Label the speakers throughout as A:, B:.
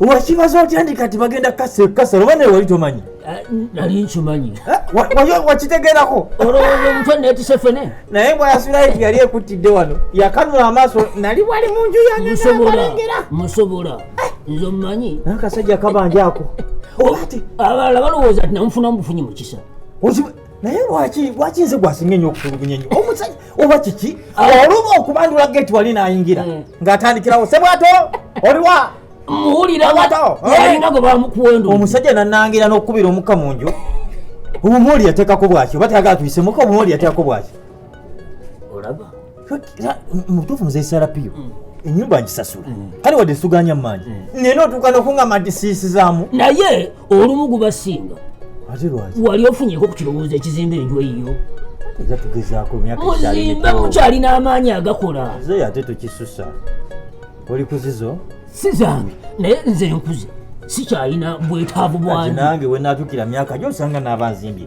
A: wakibaza otya ndi kati bagenda kasala oba naye wali tomanyi ah, nali
B: nkimanyi eh, wakitegerako
A: olowooza
B: omutwe netise fene naye bwayasulaiti
A: yali ekuttidde wano yakanula amaaso nali wali mu nju yangeabalengera musobola
B: eh. nze omumanyi nakasajja kabanja
A: ako abalala
B: balowooza ti namufunamu bufunyi mu kisa naye
A: lwaki lwaki nze gwasinga enyo okutulugunya enyo omusajja oba kiki ah. oluba okubandula geti wali nayingira hmm. ngaatandikirawo sebwato oliwa
B: muwuliraomusajja nanangira
A: nokukubira omukka mu nju obumooli yateekako bwaki oba tayagala tuyisemuka obumooli yateekako bwaki
B: olaba
A: mubutuufu muzeyi sarapiyo mm. enyumba ngisasula mm. kale wadde suganya mumaanyi mm. nena otuuka nokungamba nti siisizaamu naye
B: olumu gubasinga
A: wali ofunyeko ku kirowoozo
B: ekizimba enju eyiyo era tugezaako
A: muzimbe mukyalina
B: amaanyi agakola zeyo ate tukisusa
A: oli kuzizo si zange
B: naye nze nkuze sikyalina bwetaavu bwange nange wenatukira
A: myaka gyosanga naabanzimbye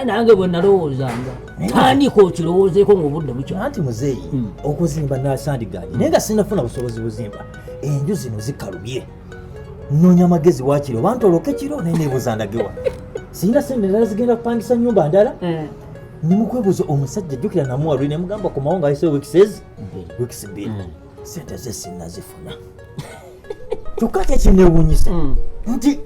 A: nange
B: bwenalowoozanga tandika okirowoozeeko ngaobudde bukyanti muzeeyi hmm.
A: okuzimba nasandigaanyi naye nga sinafuna busobozi buzimba enju zino zikalubye nonya amagezi wakiri oba ntoloke kiro naye nebuuza ndagewa sirina sente ndala zigenda kupangisa nyumba ndala eh. nimukwebuuza omusajja jjukira namuwaluli nemugamba komawo nga ayise wikisezi wikisi bbiri hmm. sente ze sinnazifuna kyokka kyekinewunyisa hmm. nti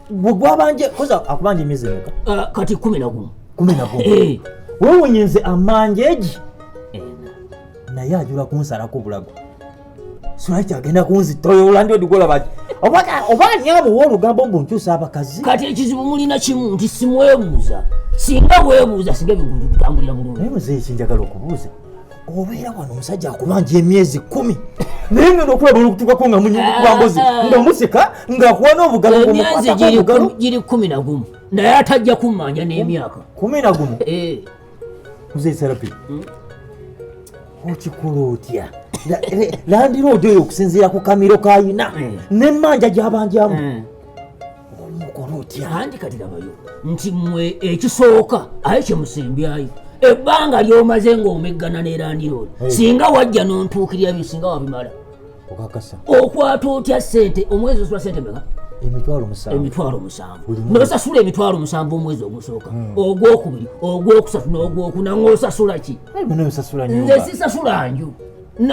A: gwe gwabanje koza akubanja emyezi emeka ah, kati kumi nagumu
B: kumi nagumu eh.
A: wewunye nze amanja egi naye ajula kunsalako obulago sulaki agenda kunzitoyolandiodikolabaki oba ani amuwa olugambo mbu nkyusa abakazi kati ekizibu mulina
B: kimu nti simwebuuza singa webuuza singa ebintu bitambulira bulungi naye muzeekinjagala
A: okubuuza obeera wano omusajja akubanja emyezi kumi naye ngenda okulaba olukutukako nga munyingi kubambozi ah, ah. nga museka ngaakuwa n'obugalo emyezi
B: giri kumi na gumu naye atajja kummanja n'emyaka kumi na gumu
A: eh. mzee serapi hmm? okikola otya landiroodi oyo okusinziira ku kamiro kayina hmm. n'emmanja gyabanjamu hmm. olwokola otya andi kati labayo
B: nti mwe ekisooka aye kyemusembyayo ebbanga lyomaze ng'omeggana nerandirood singa wajja nontuukirira byo singa wabimala
A: okwata otya
B: sente omwezi osula sente meka
A: emitwalo musanvu
B: nosasula emitwalo musanvu omwezi ogusooka hmm. ogwokubiri ogwokusatu nogwokuna ngosasula ki nze sisasula nju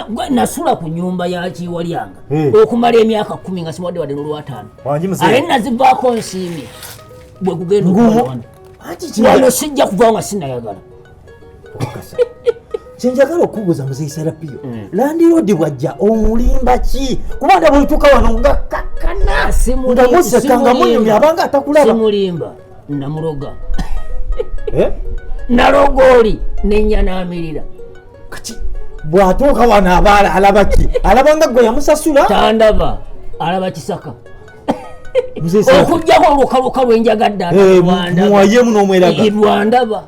B: gwe nasula ku nyumba ya kiwalyanga hmm. okumala emyaka kumi nga siwadde wadde nolwataano aye nazivaako nsiimi bwe kugenda okuwano sijja kuvawo nga sinayagala
A: kyenjagala okubuuza muzeyi serapiyo hmm. landiroodi bwajja omulimba ki kubanga bwetuka wano nga kakkana nga museka nga munyumya abanga atakulabamulimba
B: namuloga eh? naloga oli nenya namirira kati
A: bwatuuka wano abaala alaba ki alaba nga gwe yamusasula tandaba
B: alaba kisaka okujjako olukaluka lwenjagadde muwayemu
A: nomweragairwandaba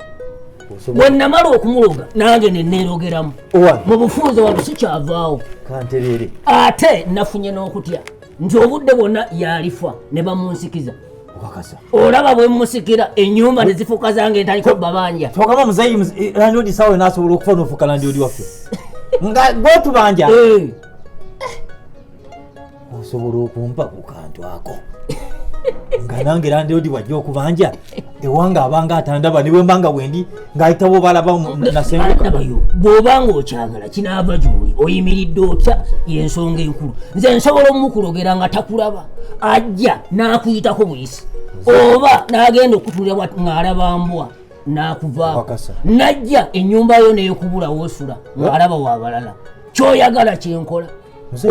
B: wenamala okumuloga nange nenerogeramu mu bufunze wano sikyavaawo
A: ate
B: nafunye n'okutya nti obudde bwonna yalifa ne bamunsikiza olaba bwemusikira enyumba nezifuuka zange ntaliko babanja togamba muzeyi eh,
A: landlord sawe nasobola okufa nofuuka landlord waffe nga gwetubanja eh. osobola okumpa ku kantu ako nga nange landlord wajja okubanja ewanga abanga atandaba niwembanga wendi ng'ayita bwobalaba nasenguka
B: bw'oba ng'okyagala kinaava gyoli oyimiridde otya yensonga enkulu nze nsobola omukulogera nga takulaba ajja n'akuyitako buyisi oba n'agenda okutulira ng'alaba mbwa n'akuvaako najja ennyumba yo n'ekubula wosula ng'alaba wabalala kyoyagala kyenkola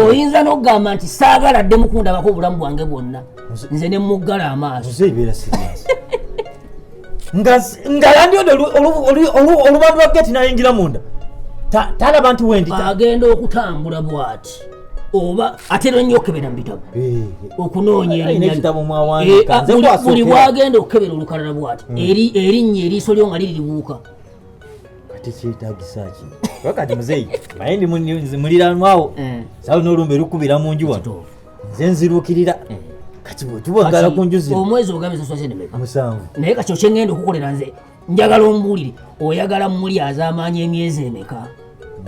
B: oyinza nokugamba nti saagala dde mukundabako obulamu bwange bwonna nze ne muggala amaaso
A: nga yandi odo oluba lwa
B: geti
A: nayingira munda
B: talaba nti
A: wendi agenda okutambula
B: bwati oba ate nonyo okebera mubitabo eh. okunoonya erinyabuli
A: eh, bwagenda
B: okukebera olukalala bwati hmm. erinnya eriiso lyo nga liribuuka kati
A: kyetagisa ki wakati muzeeyi naye ndi muliranwawo eh. saa lino olumbe lukubira mu nju wano nze nzirukirira eh. kati bwetubagala ku nju zino omwezi ogambe saswasenemeka
B: musanvu naye kati
A: okyengenda
B: okukolera nze njagala ombuulire oyagala muli azaamaanya emyezi emeka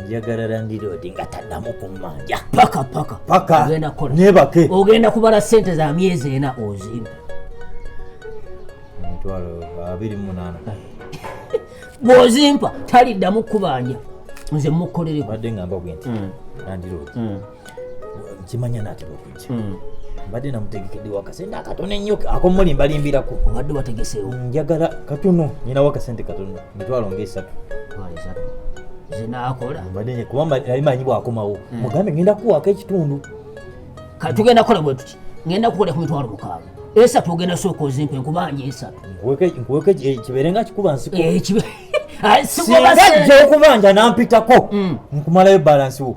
B: njagala
A: landiroodi nga taddamu kummanja paka paka paka
B: ogenda kukola nebake
A: ogenda kubala
B: sente za myezi ena ozimba emitwalo
A: abiri munaana
B: bw'ozimpa taliddamu kubanja nze mukolereko badde ngamba bwenti
A: landiroodi kimanya natera okujja hmm. mbadde namutegekedde wakasente akatono ennyo akomuli mbalimbirako obadde wategeseewo
B: njagala katono
A: nyina wakasente katono mitwalo ngaesatu
B: zinakola mbadde kuba yali
A: manyi bwakomawo hmm. mugambe ngenda kuwaako ekitundu
B: tugenda kukola bwe tuti ngenda kukola ku mitwalo mukaaga esatu ogenda sooka ozimpa enkubanja esatu nkuweke eh, kibeere
A: nga kikuba nsiko eh,
B: singa jja okubanja
A: nampitako hmm. nkumalayo balansi wo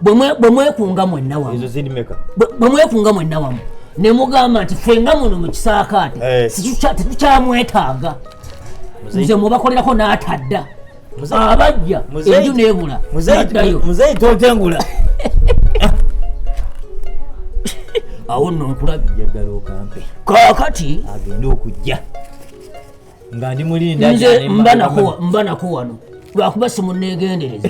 B: bwe mwekunga mwenna wamu
A: bwe mwekunga
B: mwenna wamu ne mugamba nti ffe nga muno mu kisaakaate eh. tetukyamwetaaga nze mubakolerako n'atadda abajja enju nebula muzeyi
A: totengula
B: awo nno nkulabye
A: kakati
B: agende okujja
A: nga ndi mulinda nze mba nakuwa
B: mba nakuwa no lwakuba simunegendereza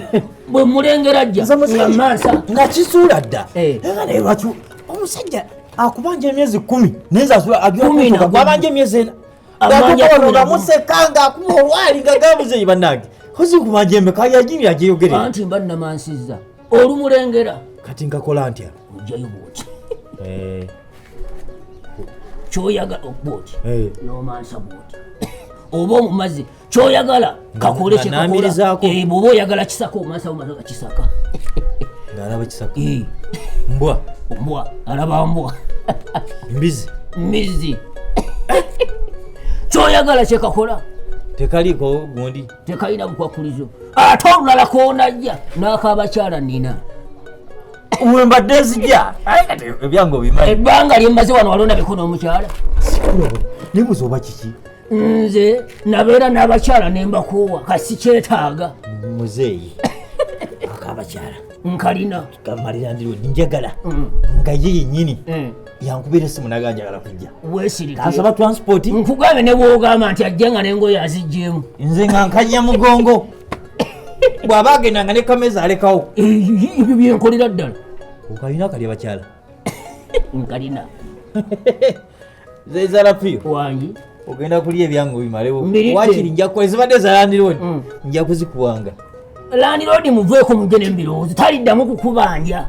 B: bwe mulengera jja nga mansa nga kisuula dda
A: eh. era naye lwaki omusajja akubanja emyezi kumi naye zasula agabanja emyezi ena amuseeka nga akuba olwali nga gamuzeyi bannange kozikubanja emeka yajiri ajeyogerera anti mba namansiza
B: olumulengera kati nkakola
A: ntya ojayo bwoti
B: eh. kyoyagala okuba oti eh. nomansa bwoti oba omumazi kyoyagala kakole kyekakolaoba eh, oyagala kisaka omansa omaza nga kisaka alaba
A: kisaka mbwa mbwa alaba mbwa
B: mbizi mbizi kyoyagala kyekakola tekaliiko
A: gundi tekalina bukwakulizo
B: ate olulala konajja n'akabakyala nina
A: wembadde nzija ebyange obimanyi ebbanga lyemmaze wano
B: walonda biko n'omukyala
A: nibuza oba kiki nze
B: nabeera n'abakyala ne mbakoowa kasi kyetaaga muzeeyi
A: akabakyala nkalina
B: kamalira ndiwe
A: njagala mm. nga ye yennyini mm. yankubira esimu naga njagala kujja wesirikasaba
B: transport nkugambe
A: newogamba
B: nti ajja nga nengoyo azijjemu nze nga nkanya
A: mugongo bw'aba agenda nga ne kameza alekawo ebyo byenkolera
B: ddala okalina kali
A: abakyala
B: nkalina
A: zezalapiyo wangi
B: ogenda kulya ebyange
A: obimalewo wakiri nja kukola ezibadde za landiroodi mm. nja kuzikuwanga landiroodi
B: muveeko mugene mubirowoozo taliddamu kukubanja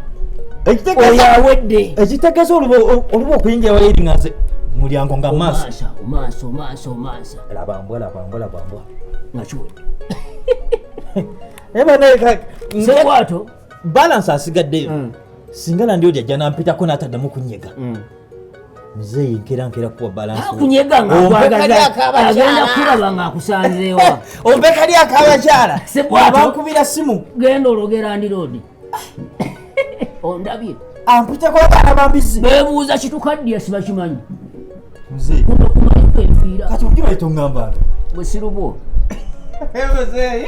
B: oyo awedde ekitegeeza
A: oluba okuyingira wayiri nga nze mulyango nga maaso maaso maaso maaso labambwa labambwa labambwa
B: nakiwedde
A: ebanaekakwato balansi asigaddeyo mm. singa landiroodi ajja nampitako nataddamu kunyega mm. Mzee nkera nkera kuwa balance. Kunyega nga kwagaza.
B: Agenda kulaba nga akusanzeewa. Ombe kali akaba
A: chala. Waba kubira simu. Genda ologera andi
B: road. Ondabye. Ampita kwa bana
A: babizi. Bebuza kitukaddi
B: asiba kimanyi. Mzee.
A: Kuno kumali
B: kwefira. Kati ukiwa itongamba.
A: Bwesirubo. Mzee.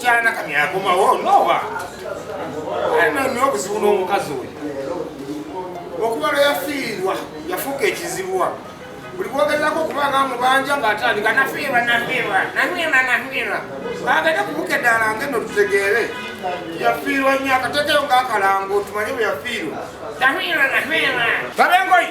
C: kyana kami akomawo nowa alina nyo obuzibu n'omukazi oyo okuba lwe yafiirwa yafuuka ekizibu wa buli bwogezako okuba nga mubanja ng'atandika nafiirwa nafiirwa nafiirwa nafiirwa bagenda kubuka eddala nga eno tutegeere yafiirwa nyo akatekeyo ng'akalango tumanye bwe yafiirwa nafiirwa nafiirwa babengoyi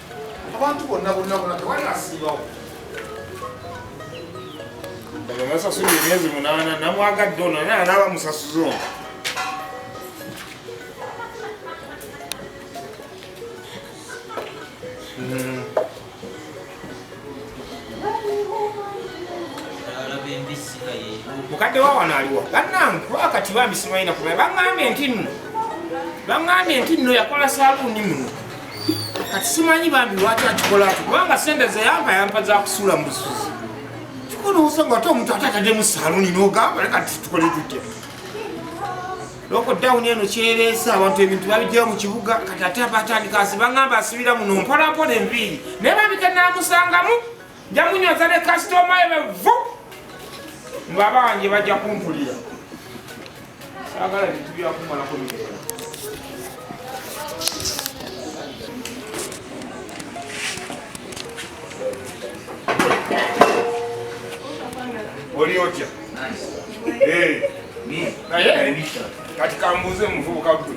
C: abantu bonna bonna bona tewali asingawo bamasasula emyezi munaana namwagadde ono naye anaaba musasuza ono mukadde wa wano aliwa bannange kuba kati bambisimayina kuba baŋambye nti nno baŋambye nti nno yakola saluuni muno kati simanyi bambi lwaki akikola ati kubanga sente zeyampa yampa zakusula mubusuzi kikuluusa nga ate omuntu ate atadde mu saluni nogamba leka tukole tutya lokodawuni eno kyereesa abantu ebintu babijjawo mu kibuga kati ate abatandika asi bagamba asibira muno mpolampola enviiri naye babike namusangamu jamunyoza ne kasitoma ebe vu ngaba wange bajja kumpulira sagala bintu byakumalako mirera oli otya naye kati kambuuze muvubuka gwe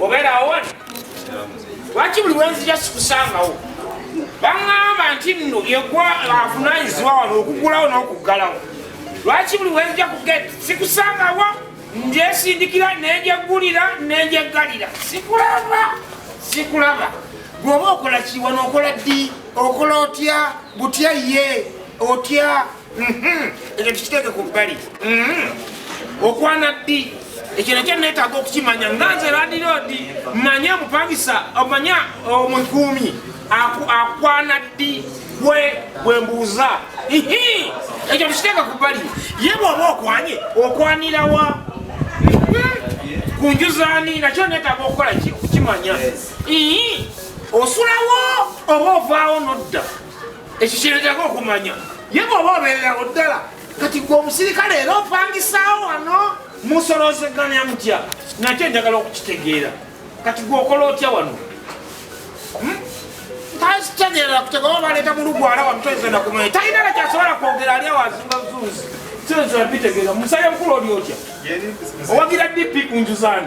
C: obeerawo wano lwaki buli wenzija sikusangawo baŋŋamba nti nno yegwa avunaanyizibwa wano okugulawo n'okuggalawo lwaki buli wenzija kuget sikusangawo njesindikira nenjeggulira nenjeggalira sikulaba sikulaba gweoba okola kiwa nokola ddi okola otya butya ye otya Mhm. ekyo tukiteeke ku bbali mhm. okwana ddi ekyo nakyo neetaaga okukimanya nga nze ladiroodi manya omupangisa omanya omukuumi akwana ddi we bwe mbuuza ekyo tukiteeke ku bbali ye bwoba okwanye okwanirawa mhm. ku njuzaani nakyo neetaaga okukola kukimanya osulawo oba ovaawo nodda ekyo kyeretako okumanya ye bwoba obeererawo ddala kati gwe omusirikale era opangisaawo wano musolozeganya mutya nakyo njagala okukitegeera kati gwe okola otya wano hmm? takitegeera kutegewa baleeta mulugwala wano toyinza nakumanya talina nakyasobola kwogera ali awazimba zuuzi toyinza nabitegeera musale mukulu oli otya owagira dp kunjuzani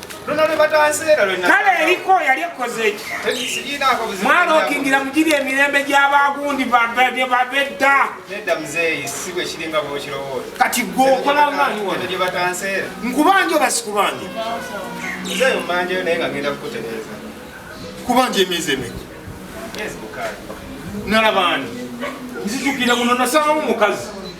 D: kale eriko yali
C: ekkoze eki mwalookingira mugiri emirembe gy'abagundi babedda
D: kati gwe okola
C: maanyi wano
D: nkubanja oba
C: sikubanja
D: kubanja
C: emyezi emeka
D: nalabani
C: nzijukira muno nasangamu mukazi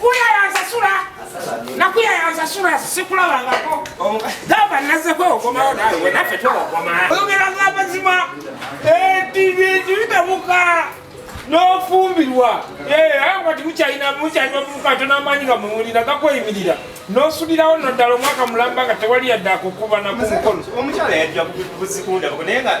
C: kuya yansasula nakuya yansasula sikulabangako gamba nazeko okomawo nawe naffe twokoma oyogera ngamazima ebibitabuka n'ofumbirwa kati mukyalina mukyalina mukato n'amaanyi nga muwulira gakweyimirira n'osulirawo no ddala omwaka mulamba nga tewali yadde akukuba naku mukono omukyala yajja
D: buzikundabako naye nga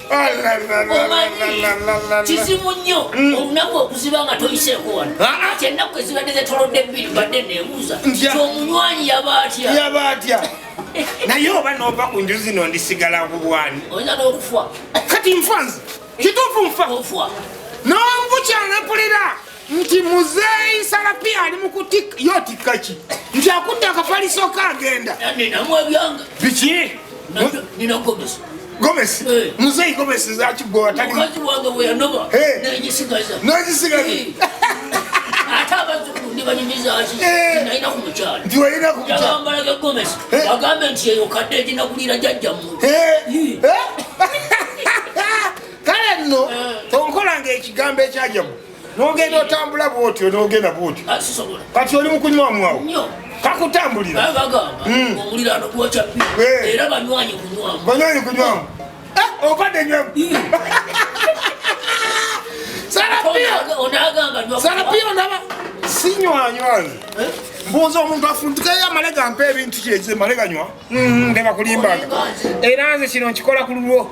B: kizibu nnyo mm. olunaku okuziba nga toyiseeko wano ah, ah. ati ennaku ezibadde zetolodde bbiri badde nebuuza kyomunywanyi yaba atya yaba atya naye oba
C: nova ku nju zino ndisigala kubwani oyinza n'okufa
B: kati nfanzi
C: kituufu nfa nonvukyana pulira nti muzeeyi salapi ali mukutika yo tikka ki nti akutte akafaliso ka agenda
B: biki gomesi eh.
C: muzeeyi gomesi zakigowataliagambe
B: nti eyo kadde eginakulira jajjamu
C: kale nno onkola ngaekigambo ekyajamu nogenda otambula bwotyo nogenda bwotyo ah, kati oli mukunywamuawo kakutambulira
B: hmm. eh. banywanyi kunywamu eh, ovadde
C: nywamu hmm. sarapio ndaba sinywanywani eh? mbuuza omuntu afuntukeyo amale gampa ebintu kyekye male ganywa hmm, ndebakulimbaga era nze kino nkikola ku lulwo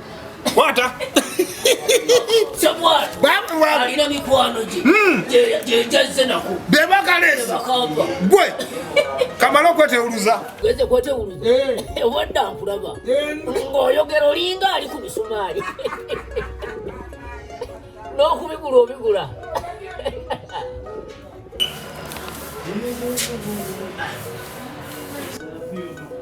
C: Kwata. Sabwa.
B: Babu wa. Alina mikwano je. Mm. Je je jaze nako. Beba kalesi. Beba
C: kamba. Gwe. Kamalo kwete uluza. Kwete kwete uluza.
B: Eh. eh Wanda kulaba. Eh. Ngoyogera olinga ali ku misumari. No kubigula obigula. Thank you.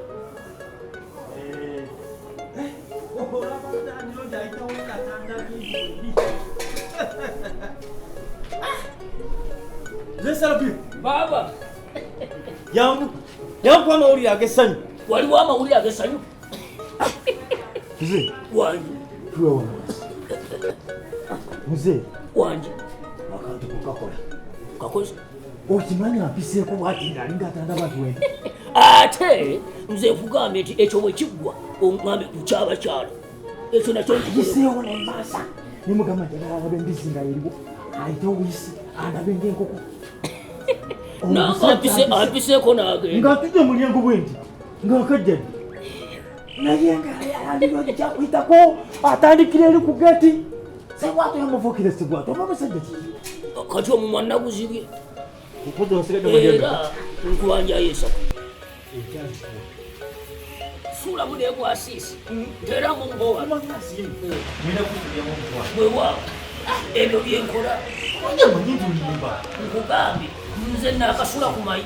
A: Baba.
B: Yangu.
A: Yangu kwa mauli ya gesanyu. Wali wa mauli ya
B: gesanyu. Mzee.
A: Wanji. Tuwa
B: wangu.
A: Mzee. Wanji.
B: Wakati
A: kukakola. Kakola.
B: okimanyi
A: ampiseeko bwati nga alinga atandaba nti wenda ate
B: nze nkugambye nti ekyo bwe kiggwa ongambe kukyaba kyalo ekyo nakyo nkiseewo nemaasa
A: ne mugamba nti agala alabe embizzi nga yeriwo ayite obuyisi alabe ng'enkoko
B: ampiseeko nage nga atudde mulyengo bwe
A: nti nga wakajjani naye nga yalina ojja kuyitako atandikira eri ku geti sebwato yamuvukire sebwato oba musajja ki kati omumwa
B: naguzibye era nkwanjayo esatu suula mu negwasiisi tera mu mbowa bwewaawo ebyo byenkola nkugambye nze nakasula ku mayi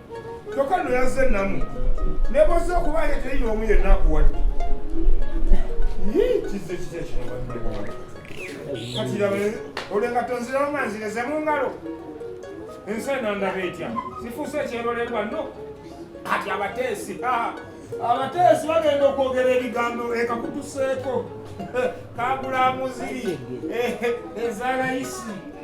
C: kyokka no yazze namu nebozze okubaayo teriyo omu yenna akuwadde kizze kitya kino kati labe olengato nzirawo nga nzireze mu ngalo ensi eno ndaba etya sifuuse ekyerolerwa no kati abateesi abateesi bagenda okwogera ebigambo ekakutuseeko kagulamuzi eh, eh, ezalayisi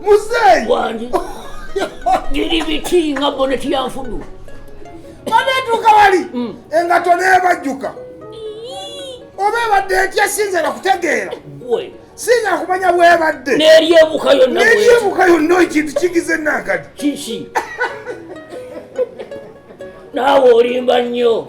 B: muzeeyi
C: wangi
B: biri biti nga boneti ya nfudu
C: banetuuka wali mm. engato nebajjuka oba ebadde etya sinza nakutegeera
B: sinza kumanya
C: bwebadde neryebuka
B: yonna ekintu
C: kigize nankadi kiki
B: naawe olimba nnyo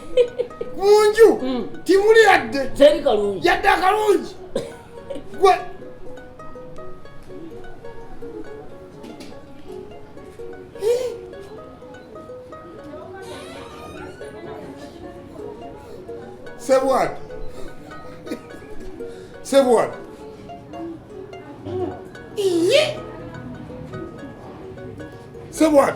C: munju hmm. timuli yadde yadde
B: akalungi
C: gwe sebwat sebwat sebwat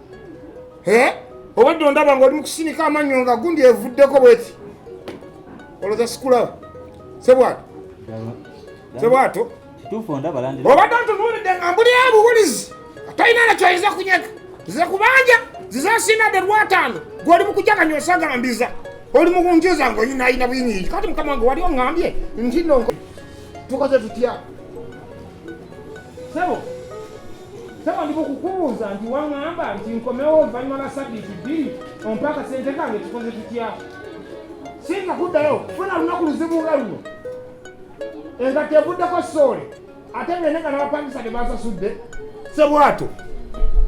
C: eh? obadde ondaba nga oli mukusinika amannyo nga gundi evuddeko bweti oloza sikulaba sebwato sebwato
A: obadde ntunuulidde nga
C: mbuli abuwulizi atalina nakyo ayinza kunyega nze kubanja zizasinade lwataano gwoli mukujaganya osagambiza oli mukunjo zange oyina ayina buyingi kati mukama wange wali ongambye nti no tukoze tutya sebo Saba ndipo kukubuuza nti waŋŋamba nti nkomewo oluvannyuma lwa sabbiiti bbiri ompa akasente kange tukoze tutya singa kuddayo funa lunaku luzibu nga luno engatto evuddeko soole ate bene nga nabapangisa tebasasudde sebwato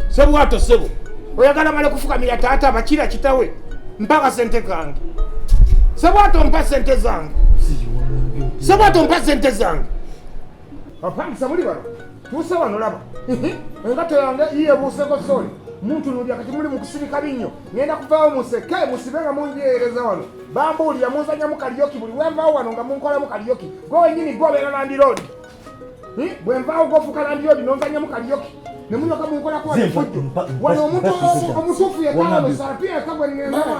C: sebwato sebo oyagala male kufukamira taata bakira kitawe mpa akasente kange sebwato mpa sente zange sebwato mpa sente zange apangisa muli bano tuuse wano laba engato yange yiyebuuseko soli muntu nulya kati muli mukusirika binnyo ngenda kuvaawo museke musibe nga munjeereza wano bambuulira munzanyamu kaliyoki buli wenvaawo wano nga munkolamu kaliyoki gwe wenyini gwe obeera landiroodi bwenvaawo gwofuuka landiroodi nonzanyamu kaliyoki nemulyoka munkolako efujjo wano omuntu omutuufu yekala musala
A: pia
C: ekagwenenaa